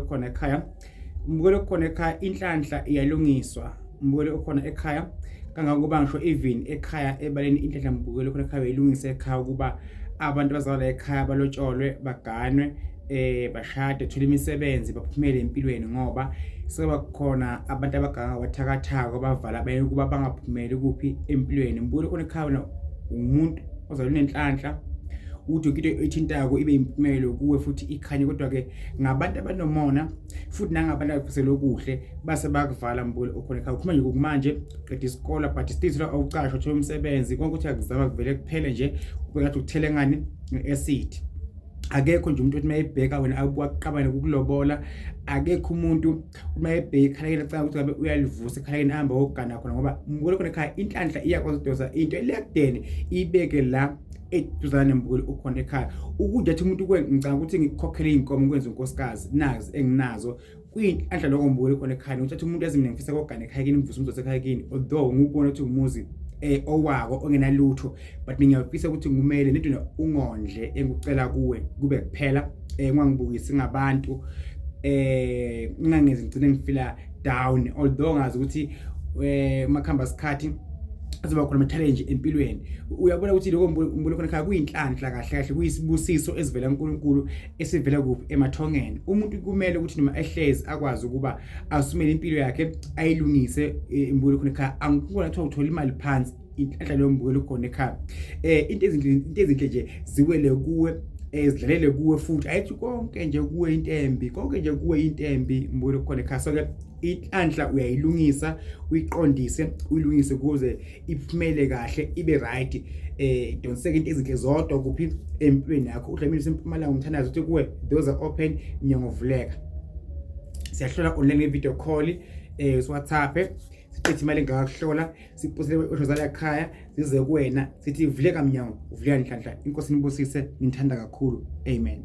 khona ekhaya umbukeli okhona ekhaya inhlanhla iyalungiswa umbukeli okhona ekhaya kangangokuba ngisho even ekhaya ebaleni inhlanhla mbukeli okhona ekhaya uyilungisa ekhaya ukuba abantu bazalala ekhaya balotsholwe baganwe eh bashade thula imisebenzi baphumele empilweni ngoba seba khona abantu abaganga wathakathaka bavala baye kuba bangaphumeli kuphi empilweni mbukeli okhona ekhaya umuntu ozalwa nenhlanhla uthi into ethintayo ibe impumelo kuwe futhi ikhanye kodwa ke ngabantu abanomona futhi nangabantu abafisela okuhle base bakuvala mbule okhona ekhaya ukhuluma nje kumanje qeda isikole but still thola awucashwa thola umsebenzi konke ukuthi akuzama kuvele kuphele nje ubekathi uthele ngani nge-acid akekho nje umuntu othi mayebheka wena akuwaqabane kukulobola akekho umuntu uma ebheki khalekeni acanga ukuthi ngabe uyalivusa ekhalekeni ahambe wogana khona ngoba mbukele khona ekhaya inhlanhla iyakwazi ukudosa into elekudeni ibeke la eduzane nembukeli ukhona ekhaya ukudla athi umuntu kwe ngicanga ukuthi ngikhokhele iy'nkomo ngikwenza unkosikazi nazi enginazo kuyinhlanhla loko mbukeli khona ekhaya nokuthi athi umuntu azimine ngifisa kogana ekhaya kini ngivuse umzothi ekhaya kini although ngikubona ukuthi umuzi um owako ongenalutho but ngiyafisa ukuthi ngumele nidune ungondle engicela kuwe kube kuphela eh ngangibukisi ngabantu eh ngangezi ngcine ngifila down although ngazi ukuthi eh makhamba isikhathi azoba khona ama-challenge empilweni uyabona ukuthi lokho mbulo khona khaya kuyinhlanhla kahle kahle kuyisibusiso esivela uNkulunkulu esivela kuphi emathongeni umuntu kumele ukuthi noma ehlezi akwazi ukuba asumele impilo yakhe ayilungise e, mbulo khona khaya angikubona kuthiwa uthola imali phansi inhlanhla leyo mbukela ukhona ekhaya eh into ezinhle into ezinhle nje ziwele kuwe ezidlalele eh, kuwe futhi ayithi konke nje kuwe into embi konke nje kuwe into embi mbukela ukhona ekhaya so ke inhlanhla uyayilungisa uyiqondise uyilungise kuze iphumele kahle ibe right eh donseke into ezinhle zodwa kuphi empilweni yakho udlamini sempumalanga umthandazo uthi kuwe those are open nyango vuleka siyahlola online ngevideo call eh siwhatsapp sichithi imali engakakuhlola siphosele iqosho zalakhaya zize kuwena sithi vuleka mnyango uvuleka nhlanhla inkosi nibusise nithanda kakhulu amen